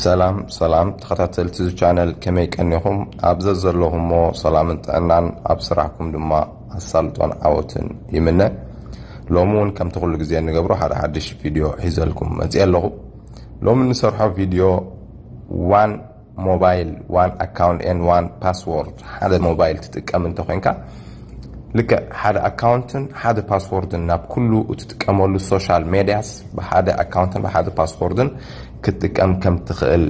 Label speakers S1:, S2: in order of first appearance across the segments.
S1: ሰላም ሰላም ተኸታተልቲ እዚ ቻነል ከመይ ቀኒኹም ኣብ ዘዘለኹሞ ሰላምን ጥዕናን ኣብ ስራሕኩም ድማ ኣሳልጦን ዓወትን ይምነ ሎሚ እውን ከምቲ ኩሉ ግዜ ንገብሮ ሓደ ሓድሽ ቪድዮ ሒዘልኩም መፅአ ኣለኹ ሎሚ ንሰርሖ ቪድዮ ዋን ሞባይል ዋን ኣካውንት ኤን ዋን ፓስዎርድ ሓደ ሞባይል ትጥቀም እንተኮንካ ልክዕ ሓደ ኣካውንትን ሓደ ፓስዎርድን ናብ ኩሉ እትጥቀመሉ ሶሻል ሜድያስ ብሓደ ኣካውንትን ብሓደ ፓስዎርድን ክትጥቀም ከም ትኽእል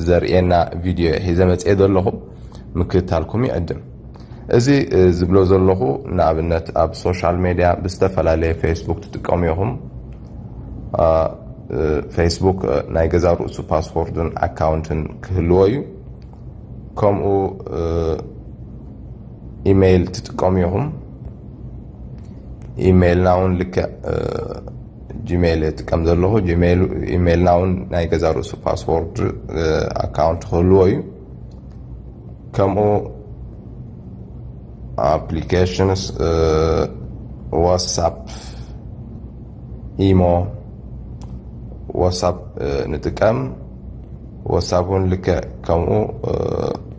S1: ዘርእየና ቪድዮ ሒዘ መፅኤ ዘለኹ ምክትታልኩም ይዕድም እዚ ዝብሎ ዘለኹ ንኣብነት ኣብ ሶሻል ሜድያ ብዝተፈላለየ ፌስቡክ ትጥቀሙ ኢኹም ፌስቡክ ናይ ገዛ ርእሱ ፓስፖርትን ኣካውንትን ክህልዎ እዩ ከምኡ ኢሜይል ትጥቀሙ ኢኹም ኢሜይልና እውን ልክዕ ጂሜይል እጥቀም ዘለኹ ኢሜይልና እውን ናይ ገዛ ርእሱ ፓስወርድ ኣካውንት ክህልዎ እዩ ከምኡ ኣፕሊኬሽንስ ዋትሳፕ ኢሞ ዋትሳፕ ንጥቀም ዋትሳፕ እውን ልክዕ ከምኡ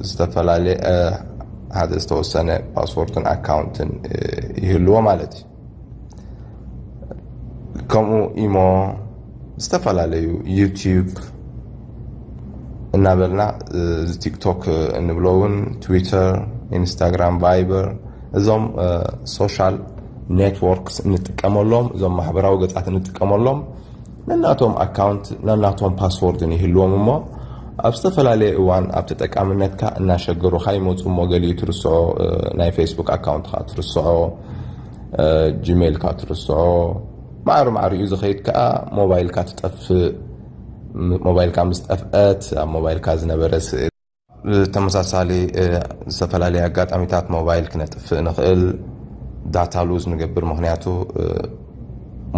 S1: ዝተፈላለየ ሓደ ዝተወሰነ ፓስፖርትን ኣካውንትን ይህልዎ ማለት እዩ ከምኡ ኢሞ ዝተፈላለዩ ዩቲዩብ እናበልና እዚ ቲክቶክ እንብሎ እውን ትዊተር ኢንስታግራም ቫይበር እዞም ሶሻል ኔትወርክስ እንጥቀመሎም እዞም ማሕበራዊ ገፃት እንጥቀመሎም ነናቶም ኣካውንት ነናቶም ፓስዎርድን ይህልዎም እሞ ኣብ ዝተፈላለየ እዋን ኣብ ተጠቃምነትካ እናሸገሩኻ ይመፁ እሞ ገሊኡ ትርስዖ ናይ ፌስቡክ ኣካውንትኻ ትርስዖ ጂሜልካ ትርስዖ ማዕሪ ማዕሪኡ ዝኸይድ ከዓ ሞባይልካ ትጠፍእ ሞባይልካ ምስ ጠፍአት ኣብ ሞባይልካ ዝነበረ ስእሊ ብተመሳሳሊ ዝተፈላለየ ኣጋጣሚታት ሞባይል ክነጥፍእ ንኽእል ዳታ ሉዝ ንገብር ምክንያቱ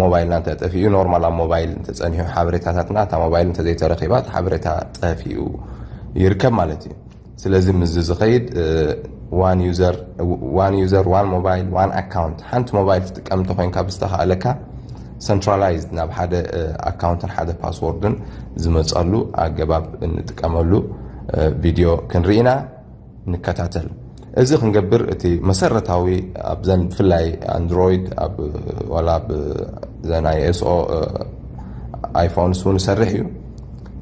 S1: ሞባይልና እንተጠፊኡ ኖርማል ኣብ ሞባይል እንተፀኒሑ ሓበሬታታትና እታ ሞባይል እንተዘይተረኪባ እቲ ሓበሬታ ጠፊኡ ይርከብ ማለት እዩ ስለዚ ምዚ ዝኸይድ ዋን ዩዘር ዋን ሞባይል ዋን ኣካውንት ሓንቲ ሞባይል ትጥቀም እንተኮይንካ ብዝተካእለካ ሰንትራላይዝድ ናብ ሓደ ኣካውንትን ሓደ ፓስዎርድን ዝመፀሉ ኣገባብ እንጥቀመሉ ቪድዮ ክንርኢ ኢና ንከታተል እዚ ክንገብር እቲ መሰረታዊ ኣብዘን ብፍላይ ኣንድሮይድ ዋላ ኣብዘን ኣይኤስኦ ኣይፎንስ እውን ይሰርሕ እዩ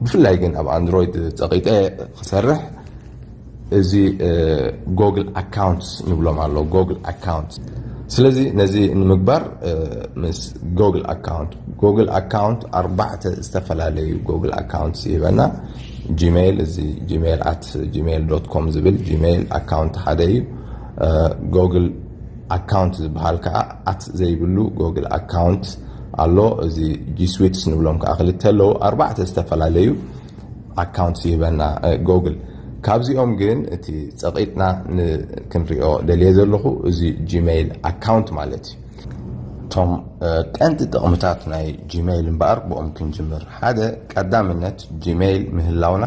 S1: ብፍላይ ግን ኣብ ኣንድሮይድ ፀቂጠ ክሰርሕ እዚ ጎግል ኣካውንትስ ንብሎም ኣሎ ጎግል ኣካውንት ስለዚ ነዚ ንምግባር ምስ ጎግል ኣካውንት ጎግል ኣካውንት ኣርባዕተ ዝተፈላለዩ ጎግል ኣካውንትስ ይህበና ጂሜይል እዚ ጂሜይል ኣት ጂሜይል ዶት ኮም ዝብል ጂሜይል ኣካውንት ሓደ እዩ ጎግል ኣካውንት ዝበሃል ከዓ ኣት ዘይብሉ ጎግል ኣካውንት ኣሎ እዚ ጂስዊትስ ንብሎም ከዓ ክልተ ኣለዉ ኣርባዕተ ዝተፈላለዩ ኣካውንት ይህበና ጎግል ካብዚኦም ግን እቲ ፀቂጥና ክንሪኦ ደልየ ዘለኹ እዚ ጂመይል ኣካውንት ማለት እዩ እቶም ቀንዲ ጥቕምታት ናይ ጂመይል እምበኣር ብኦም ክንጅምር ሓደ ቀዳምነት ጂመይል ምህላውና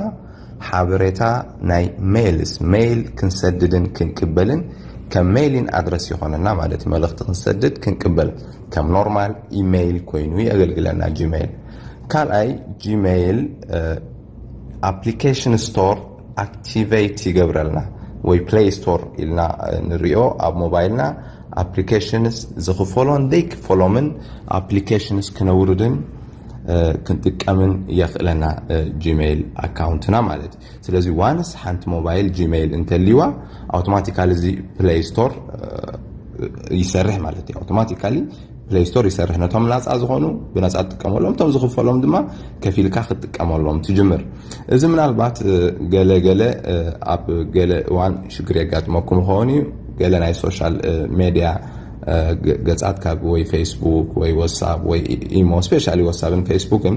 S1: ሓበሬታ ናይ ሜይልስ ሜይል ክንሰድድን ክንቅበልን ከም ሜይሊን ኣድረስ ይኾነና ማለት መልእኽቲ ክንሰድድ ክንቅበል ከም ኖርማል ኢሜይል ኮይኑ የገልግለና ጂመይል ካልኣይ ጂመይል ኣፕሊኬሽን ስቶር ኣክቲቨይት ይገብረልና ወይ ፕሌይ ስቶር ኢልና ንሪኦ ኣብ ሞባይልና ኣፕሊኬሽንስ ዝኽፈሎን ዘይክፈሎምን ኣፕሊኬሽንስ ክነውርድን ክንጥቀምን የኽእለና ጂመይል ኣካውንትና ማለት እዩ ስለዚ ዋንስ ሓንቲ ሞባይል ጂመይል እንተልይዋ ኣውቶማቲካሊ እዚ ፕለይ ስቶር ይሰርሕ ማለት እዩ ኣውቶማቲካሊ ፕለይ ስቶር ይሰርሕ ነቶም ናፃ ዝኾኑ ብነፃ ትጥቀመሎም እቶም ዝኽፈሎም ድማ ከፊልካ ክትጥቀመሎም ትጅምር እዚ ምናልባት ገለ ገለ ኣብ ገለ እዋን ሽግር የጋጥመኩም ይኸውን እዩ ገለ ናይ ሶሻል ሜድያ ገፃት ካብ ወይ ፌስቡክ ወይ ወሳብ ወይ ኢሞ ስፔሻሊ ወሳብን ፌስቡክን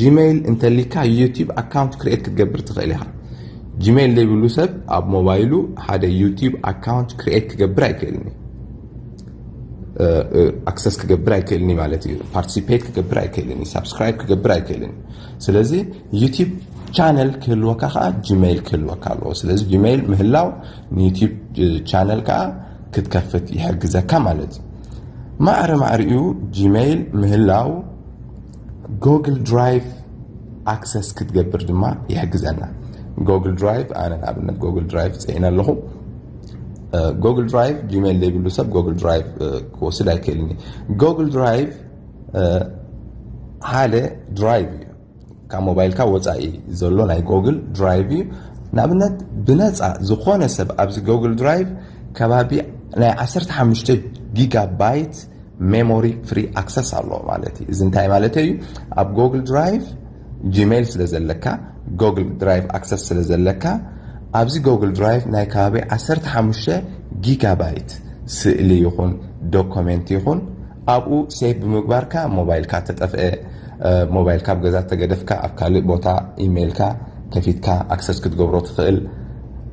S1: ጂመይል እንተሊካ ዩቲብ ኣካውንት ክርኤት ክትገብር ትኽእል ኢኻ። ጂመይል ዘይብሉ ሰብ ኣብ ሞባይሉ ሓደ ዩቲብ ኣካውንት ክርኤት ክገብር ኣይክእልን እዩ። ኣክሰስ ክገብር ኣይክእልን እዩ ማለት እዩ። ፓርቲሲፔት ክገብር ኣይክእልን እዩ። ሳብስክራይብ ክገብር ኣይክእልን እዩ። ስለዚ ዩቲብ ቻነል ክህልወካ ከዓ ጂመይል ክህልወካ ኣለዎ። ስለዚ ጂመይል ምህላው ንዩቲብ ቻነል ከዓ ክትከፍት ይሕግዘካ ማለት እዩ። ማዕረ ማዕሪኡ ጂመይል ምህላው ጎግል ድራይቭ ኣክሰስ ክትገብር ድማ ይሕግዘና ጎግል ድራይቭ ኣነ ንኣብነት ጎግል ድራይቭ ፅዒነ ኣለኹ ጎግል ድራይቭ ጂሜል ዘይብሉ ሰብ ጎግል ድራይቭ ክወስድ ኣይክእልን እዩ ጎግል ድራይቭ ሓደ ድራይቭ እዩ ካብ ሞባይልካ ወፃኢ ዘሎ ናይ ጎግል ድራይቭ እዩ ንኣብነት ብነፃ ዝኾነ ሰብ ኣብዚ ጎግል ድራይቭ ከባቢ ናይ 15 ጊጋባይት ሜሞሪ ፍሪ ኣክሰስ ኣለዎ ማለት እዩ እዚ እንታይ ማለት እዩ ኣብ ጎግል ድራይቭ ጂሜይል ስለ ዘለካ ጎግል ድራይቭ ኣክሰስ ስለ ዘለካ ኣብዚ ጎግል ድራይቭ ናይ ከባቢ 15 ጊጋባይት ስእሊ ይኹን ዶኮሜንት ይኹን ኣብኡ ሴቭ ብምግባርካ ሞባይልካ ተጠፍአ ሞባይልካ ኣብ ገዛ ተገደፍካ ኣብ ካልእ ቦታ ኢሜይልካ ከፊትካ ኣክሰስ ክትገብሮ ትኽእል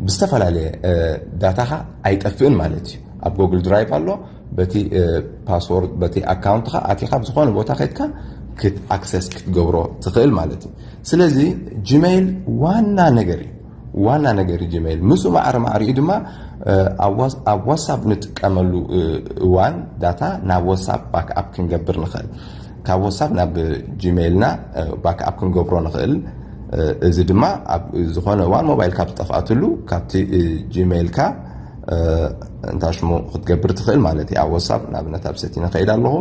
S1: ብዝተፈላለየ ዳታኻ ኣይጠፍእን ማለት እዩ ኣብ ጎግል ድራይቭ ኣሎ በቲ ፓስዎርድ በቲ ኣካውንትካ ኣቲካ ብዝኮነ ቦታ ከድካ ክት ኣክሰስ ክትገብሮ ትክእል ማለት እዩ ስለዚ ጂሜይል ዋና ነገር እዩ ዋና ነገር እዩ ጂሜይል ምስኡ ማዕረ ማዕሪኡ ድማ ኣብ ዋትሳፕ ንጥቀመሉ እዋን ዳታ ናብ ዋትሳፕ ባክኣፕ ክንገብር ንኽእል ካብ ዋትሳፕ ናብ ጂሜይልና ባክኣፕ ክንገብሮ ንኽእል እዚ ድማ ኣብ ዝኾነ እዋን ሞባይልካ ብጠፍኣትሉ ካብቲ ጂሜይልካ እንታይ ሽሙ ክትገብር ትኽእል ማለት እዩ ኣብ ወሳብ ንኣብነት ኣብ ሰቲነ ከይድ ኣለኹ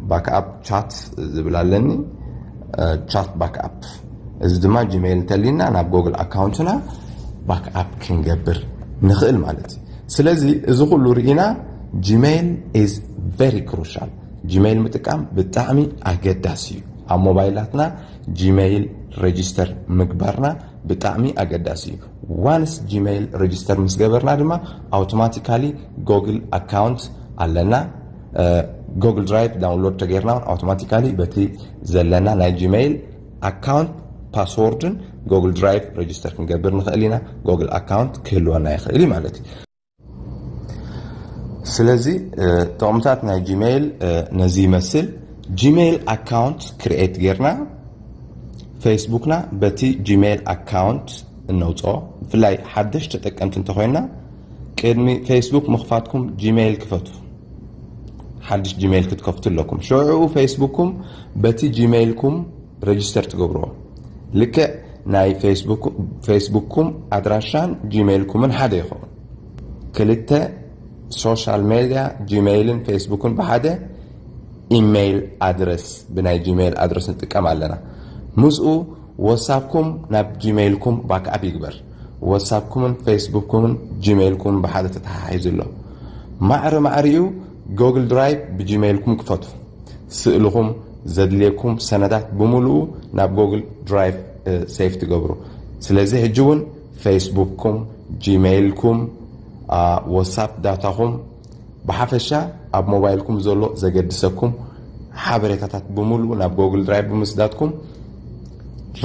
S1: ባክኣፕ ቻት ዝብል ኣለኒ ቻት ባክኣፕ እዚ ድማ ጂሜይል እንተሊና ናብ ጎግል ኣካውንትና ባክኣፕ ክንገብር ንኽእል ማለት እዩ ስለዚ እዚ ኩሉ ርኢና ጂሜይል ኢዝ ቨሪ ክሩሻል ጂሜይል ምጥቃም ብጣዕሚ ኣገዳሲ እዩ ኣብ ሞባይላትና ጂሜይል ሬጅስተር ምግባርና ብጣዕሚ ኣገዳሲ እዩ ዋንስ ጂመይል ረጅስተር ምስ ገበርና ድማ ኣውቶማቲካሊ ጎግል ኣካውንት ኣለና ጎግል ድራይቭ ዳውንሎድ ተገይርና ውን ኣውቶማቲካሊ በቲ ዘለና ናይ ጂመይል ኣካውንት ፓስዎርድን ጎግል ድራይቭ ረጅስተር ክንገብር ንኽእል ኢና ጎግል ኣካውንት ክህልወና ይኽእል እዩ ማለት እዩ ስለዚ ጥቕምታት ናይ ጂሜይል ነዚ ይመስል ጂሜይል ኣካውንት ክርኤት ጌርና ፌስቡክና በቲ ጂሜይል ኣካውንት እነውፅኦ ብፍላይ ሓደሽ ተጠቀምቲ እንተኮይና ቅድሚ ፌስቡክ ምኽፋትኩም ጂሜይል ክፈቱ ሓድሽ ጂሜይል ክትከፍቱ ኣለኩም ሽዑኡ ፌስቡክኩም በቲ ጂሜይልኩም ረጅስተር ትገብርዎ ልክዕ ናይ ፌስቡክኩም ኣድራሻን ጂመይልኩምን ሓደ ይኸውን ክልተ ሶሻል ሜድያ ጂመይልን ፌስቡክን ብሓደ ኢመይል ኣድረስ ብናይ ጂመይል ኣድረስ ንጥቀም ኣለና ምስኡ ወሳብኩም ናብ ጂመይልኩም ባክኣፕ ይግበር ወሳብኩምን ፌስቡክኩምን ጂመይልኩምን ብሓደ ተተሓሒዙ ኣሎ ማዕሪ ማዕሪኡ ጎግል ድራይቭ ብጂመይልኩም ክፈቱ። ስእልኹም፣ ዘድልየኩም ሰነዳት ብምሉኡ ናብ ጎግል ድራይቭ ሴቭ ትገብሩ። ስለዚ ሕጂ እውን ፌስቡክኩም፣ ጂመይልኩም፣ ዋትሳፕ ዳታኹም ብሓፈሻ ኣብ ሞባይልኩም ዘሎ ዘገድሰኩም ሓበሬታታት ብምሉኡ ናብ ጎግል ድራይቭ ብምስዳትኩም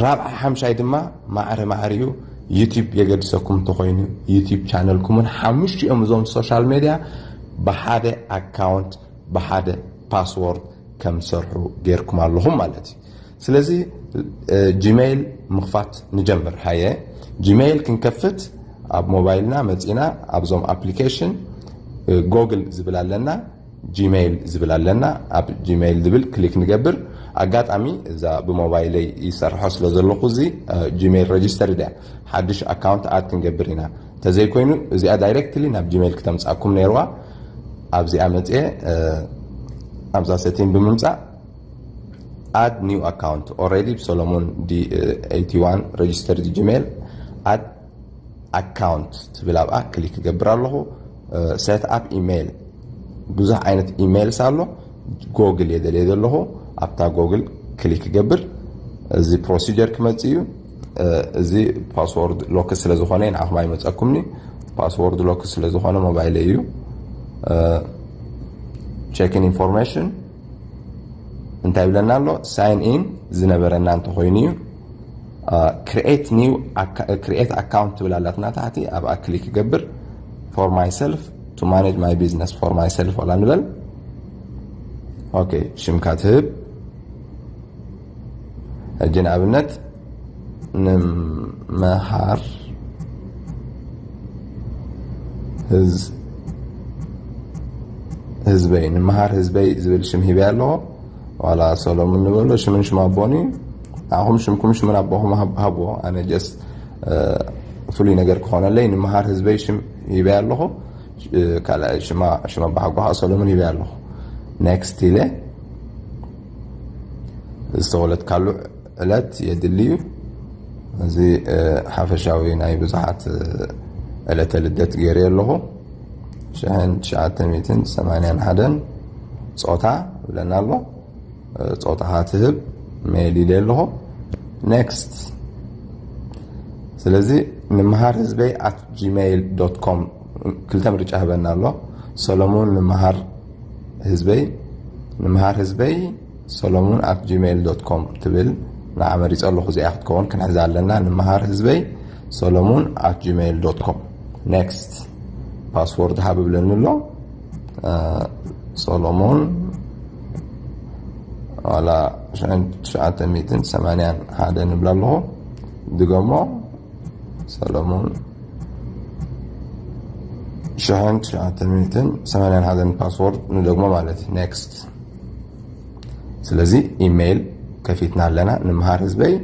S1: ራብዓይ ሓምሻይ ድማ ማዕረ ማዕረ እዩ ዩቲብ የገድሰኩም እንተኮይኑ ዩቲብ ቻነልኩምን ሓሙሽቲኦም እዞም ሶሻል ሜድያ ብሓደ ኣካውንት ብሓደ ፓስዎርድ ከም ዝሰርሑ ጌርኩም ኣለኹም ማለት እዩ ስለዚ ጂሜይል ምኽፋት ንጀምር ሃየ ጂሜይል ክንከፍት ኣብ ሞባይልና መፂና ኣብዞም ኣፕሊኬሽን ጎግል ዝብል ኣለና ጂሜይል ዝብል ኣለና ኣብ ጂሜይል ዝብል ክሊክ ንገብር ኣጋጣሚ እዛ ብሞባይለይ ይሰርሖ ስለ ዘለኹ እዚ ጂሜይል ረጅስተር ድያ ሓድሽ ኣካውንት ኣድ ክንገብር ኢና ተዘይ ኮይኑ እዚኣ ዳይረክትሊ ናብ ጂመይል ክተምጻኩም ነይርዋ ኣብዚኣ መጽየ ኣብዛ ሰቲን ብምምጻእ ኣድ ኒው ኣካውንት ኦረዲ ብሰሎሞን ዲ 81 ረጅስተር ጂመይል ኣድ ኣካውንት ትብል ኣብኣ ክሊክ ክገብር ኣለኹ ሴት ኣፕ ኢሜይል ብዙሕ ዓይነት ኢሜይልስ ኣሎ ጎግል እየ ደልየ ዘለኹ ኣብታ ጎግል ክሊክ ክገብር እዚ ፕሮሲጀር ክመፅእ እዩ እዚ ፓስዎርድ ሎክ ስለ ዝኾነ ንዓኹም ኣይመፀኩምኒ ፓስዎርድ ሎክ ስለ ዝኾነ ሞባይለ እዩ ቸክን ኢንፎርሜሽን እንታይ ብለና ኣሎ ሳይን ኢን ዝነበረና እንተኮይኑ እዩ ክሪኤት ኒው ክሪኤት ኣካውንት ትብል ኣላትና ታሕቲ ኣብኣ ክሊክ ይገብር ፎር ማይ ሰልፍ ቱ ማኔጅ ማይ ቢዝነስ ፎር ማይ ሰልፍ ላ ንበል ኦኬ ሽምካ ትህብ ሕጂ ንኣብነት ንመሃር ህዝበይ ንመሃር ህዝበይ ዝብል ሽም ሂበ ኣለዎ ዋላ ሰሎሙን ንበሎ ሽምን ሽም ኣቦን እዩ ንዓኹም ሽምኩም ሽምን ኣቦኹም ሃብዎ ኣነ ጀስ ፍሉይ ነገር ክኾነለይ ንመሃር ህዝበይ ሽም ሂበ ኣለኹ ካልኣይ ሽማ ኣባሓጎ ከዓ ሰሎሙን ሂበ ኣለኹ ኔክስት ኢለ ዝተወለድካሉ ዕለት የድሊ እዩ እዚ ሓፈሻዊ ናይ ብዙሓት ዕለተ ልደት ገይረ ኣለኹ 1981 ፆታ ብለና ኣሎ ፆታኻ ትህብ ሜል ኢለ ኣለኹ ኔክስት ስለዚ ንምሃር ህዝበይ ኣት ጂሜይል ዶት ኮም ክልተ ምርጫ ህበና ኣሎ ሰለሙን ንምሃር ህዝበይ ንምሃር ህዝበይ ሰለሙን ኣት ጂሜይል ዶት ኮም ትብል ንዓ መሪፀ ኣለኹ እዚኣ ክትከውን ክንሕዛ ኣለና ንምሃር ህዝበይ ሰለሙን ኣት ጂሜይል ዶት ኮም ኔክስት ፓስወርድ ሃብ ብለኒ ኣሎ ሰሎሞን ዋላ 981 ንብላ ኣለኹ ድገሞ ሰለሙን ሽሕን ትሽዓተ ሚእትን ሰማንያን ሓደን ፓስዎርድ ንደግሞ ማለት እዩ ኔክስት ስለዚ ኢሜይል ከፊትና ኣለና ንምሃር ህዝበይ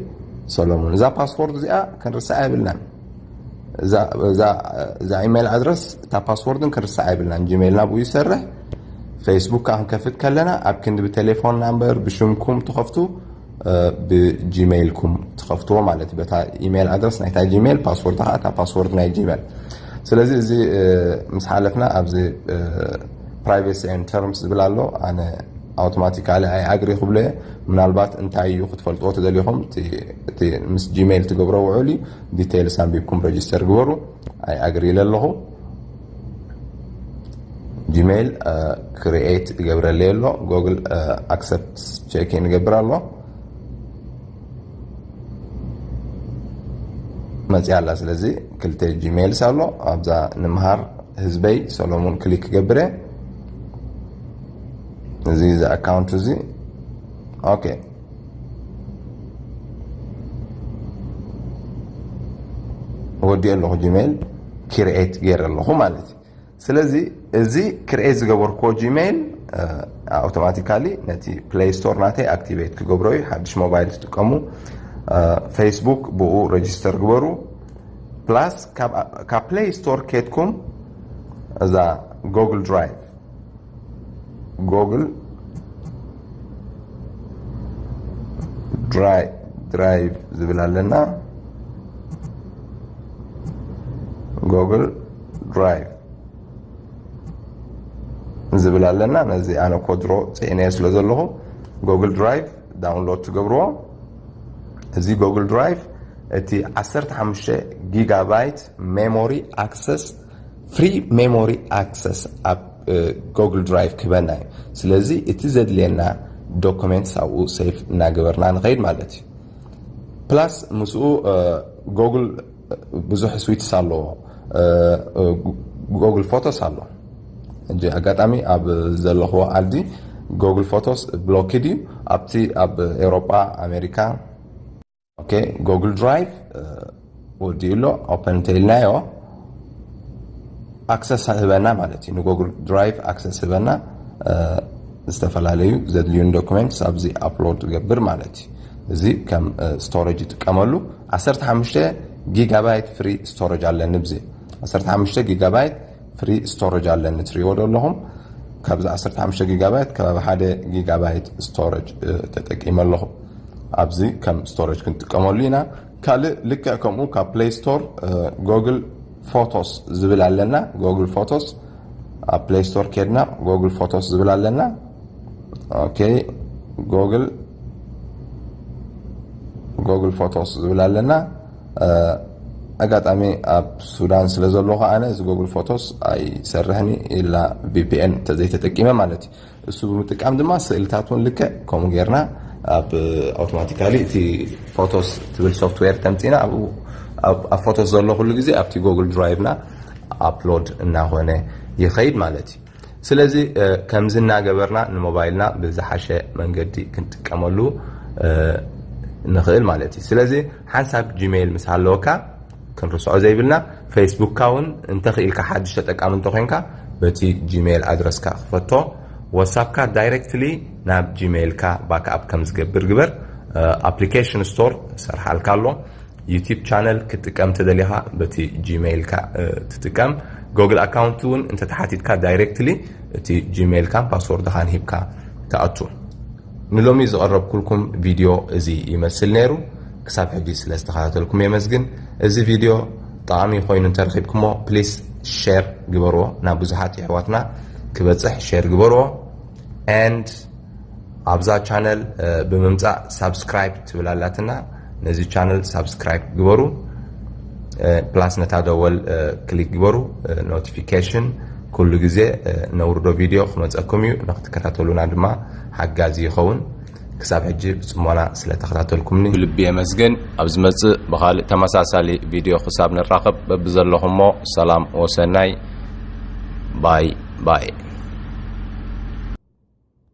S1: ሰሎሙን እዛ ፓስዎርድ እዚኣ ክንርስዓ የብልናን እዛ ኢሜይል ኣድረስ እታ ፓስዎርድን ክንርስዓ የብልናን ጂሜይልና ብኡ ይሰርሕ ፌስቡክ ከዓ ክንከፍት ከለና ኣብ ክንዲ ብቴሌፎን ናምበር ብሽምኩም ትኸፍቱ ብጂመይልኩም ትኸፍትዎ ማለት በታ ኢሜል ኣድረስ ናይታ ጂሜል ፓስወርድ ከዓ እታ ፓስወርድ ናይ ጂሜል ስለዚ እዚ ምስ ሓለፍና ኣብዚ ፕራይቬሲ ን ተርምስ ዝብል ኣሎ ኣነ ኣውቶማቲካሊ ኣይ ኣግሪ ክብሎ እየ ምናልባት እንታይ እዩ ክትፈልጥዎ ተደሊኹም እቲ ምስ ጂሜይል ትገብሮ ውዕል እዩ ዲቴይልስ ኣንቢብኩም ረጅስተር ግበሩ ኣይ ኣግሪ ኢለ ኣለኹ ጂሜይል ክሪኤት ይገብረለይ ኣሎ ጎግል ኣክሰፕት ቼኪን ይገብር ኣሎ መፅያ ኣላ ስለዚ ክልተ ጂሜይልስ ኣሎ ኣብዛ ንምሃር ህዝበይ ሰሎሙን ክሊክ ክገብር እየ እዚ እዚ ኣካውንት እዚ ኦኬ ወዲኦ ኣለኹ ጂሜይል ክርኤት ገይረ ኣለኹ ማለት እዩ ስለዚ እዚ ክርኤት ዝገበርክዎ ጂሜይል ኣውቶማቲካሊ ነቲ ፕሌይ ስቶር ናተይ ኣክቲቬት ክገብሮ እዩ ሓድሽ ሞባይል ትጥቀሙ ፌስቡክ ብኡ ረጅስተር ግበሩ ፕላስ ካብ ፕሌይ ስቶር ኬትኩም እዛ ጎግል ድራይቭ ጎግል ድራይቭ ዝብል ኣለና ጎግል ድራይቭ ዝብል ኣለና ነዚ ኣነ ኮድሮ ፅዒነዮ ስለ ዘለኹ ጎግል ድራይቭ ዳውንሎድ ትገብርዎ እዚ ጎግል ድራይቭ እቲ 15 ጊጋባይት ሜሞሪ ኣክሰስ ፍሪ ሜሞሪ ኣክሰስ ኣብ ጎግል ድራይቭ ክበና እዩ ስለዚ እቲ ዘድልየና ዶክመንት ኣብኡ ሰይፍ እናገበርና ንኸይድ ማለት እዩ ፕላስ ምስኡ ጎግል ብዙሕ ስዊትስ ኣለዎ ጎግል ፎቶስ ኣሎ እጂ ኣጋጣሚ ኣብ ዘለኹዎ ዓዲ ጎግል ፎቶስ ብሎክድ እዩ ኣብቲ ኣብ ኤውሮጳ ኣሜሪካ ኦኬ ጎግል ድራይቭ ወዲኡ ኣሎ ኦፐን እንተኢልናዮ ኣክሰስ ህበና ማለት እዩ ንጎግል ድራይቭ ኣክሰስ ህበና ዝተፈላለዩ ዘድልዩን ዶክመንትስ ኣብዚ ኣፕሎድ ገብር ማለት እዩ እዚ ከም ስቶሬጅ ይጥቀመሉ 15 ጊጋባይት ፍሪ ስቶሬጅ ኣለኒ ብዚ 15 ጊጋባይት ፍሪ ስቶረጅ ኣለኒ ትሪእዎ ዶ ኣለኹም ካብዚ 15 ጊጋባይት ከባቢ ሓደ ጊጋባይት ስቶረጅ ተጠቂመ ኣለኹ ኣብዚ ከም ስቶረጅ ክንጥቀመሉ ኢና ካልእ ልክዕ ከምኡ ካብ ፕሌይ ስቶር ጎግል ፎቶስ ዝብል ኣለና ጎግል ፎቶስ ኣብ ፕሌይ ስቶር ኬድና ጎግል ፎቶስ ዝብል ኣለና ኦኬ ጎግል ጎግል ፎቶስ ዝብል ኣለና ኣጋጣሚ ኣብ ሱዳን ስለ ዘሎኹ ኣነ እዚ ጎግል ፎቶስ ኣይሰርሕን እዩ ኢላ ቪፒኤን ተዘይተጠቂመ ማለት እዩ እሱ ብምጥቃም ድማ ስእልታት እውን ልክዕ ከምኡ ጌርና ኣብ ኣውቶማቲካሊ እቲ ፎቶስ ትብል ሶፍትዌር ተምፂና ኣብ ፎቶስ ዘሎ ኩሉ ግዜ ኣብቲ ጎግል ድራይቭና ኣፕሎድ እናኾነ ይኸይድ ማለት እዩ ስለዚ ከምዚ እናገበርና ንሞባይልና ብዝሓሸ መንገዲ ክንጥቀመሉ ንኽእል ማለት እዩ። ስለዚ ሓንሳብ ጂመይል ምስ ሃለወካ ክንርስዖ ዘይብልና ፌስቡክካ እውን እንተኽኢልካ ሓድሽ ተጠቃሚ እንተኾይንካ በቲ ጂመይል ኣድረስካ ክፈቶ፣ ዋትሳፕካ ዳይረክትሊ ናብ ጂመይልካ ባክኣፕ ከምዝገብር ግበር፣ ኣፕሊኬሽን ስቶር ሰርሓልካ ኣሎ፣ ዩቲብ ቻነል ክትጥቀም ተደሊኻ በቲ ጂመይልካ ትጥቀም ጎግል ኣካውንት እውን እንተተሓቲትካ ዳይሬክትሊ እቲ ጂመይልካን ፓስወርድኻን ሂብካ ትኣቱ ንሎሚ ዝቐረብኩልኩም ቪድዮ እዚ ይመስል ነይሩ ክሳብ ሕጂ ስለ ዝተኸታተልኩም የመስግን እዚ ቪድዮ ጠቓሚ ኮይኑ እንተረኺብኩሞ ፕሊስ ሸር ግበርዎ ናብ ብዙሓት የሕዋትና ክበፅሕ ሸር ግበርዎ and ኣብዛ ቻነል ብምምፃእ ሳብስክራይብ ትብል ኣላትና ነዚ ቻነል ሳብስክራይብ ግበሩ ፕላስ ነታ ደወል ክሊክ ግበሩ ኖቲፊኬሽን ኩሉ ግዜ ነውርዶ ቪድዮ ክመፀኩም እዩ ንክትከታተሉና ድማ ሓጋዚ ይኸውን ክሳብ ሕጂ ብፅሞና ስለተኸታተልኩምኒ ብልቢ የመስግን ኣብ ዝመፅእ ብካልእ ተመሳሳሊ ቪድዮ ክሳብ ንራኸብ በብዘለኹሞ ሰላም ወሰናይ ባይ ባይ